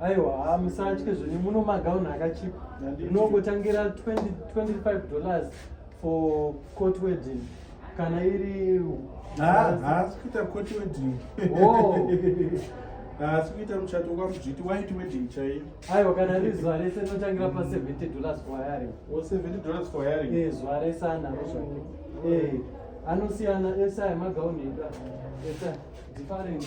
aiwa haa musatye zvenyu muno magauni akachipa rinongotangira 25 dollars for court wedding kana iri haasi kuita court wedding haasi oh. kuita muchato kwamudzviti white wedding chaiyo aiwa kana ri zuva rese rinotangira pa 70 dollars for hiring o 70 dollars for hiring e zuva rese anaro zvake e anosiyana ese ayo magauni edu ese different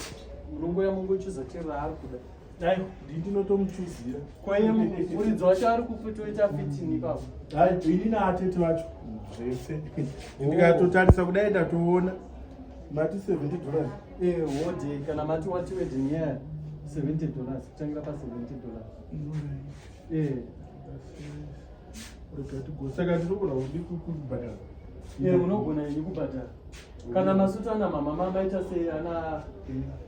munongoya mongochuza chero raari kuda dai ndini ndinotomuchuzira kwaye muridzi wacho ari kutoita fitini ipapo dai ini naatete vacho zvese ndikatotarisa kudai ndatoona mati 70 dollars eh wode kana mati wati wedding yeah 70 dollars kutangira pa 70 dollars eh saka tinogona kudi kubhadhara eh unogona ini kubhadhara kana masutana mama mama ita sei ana eh.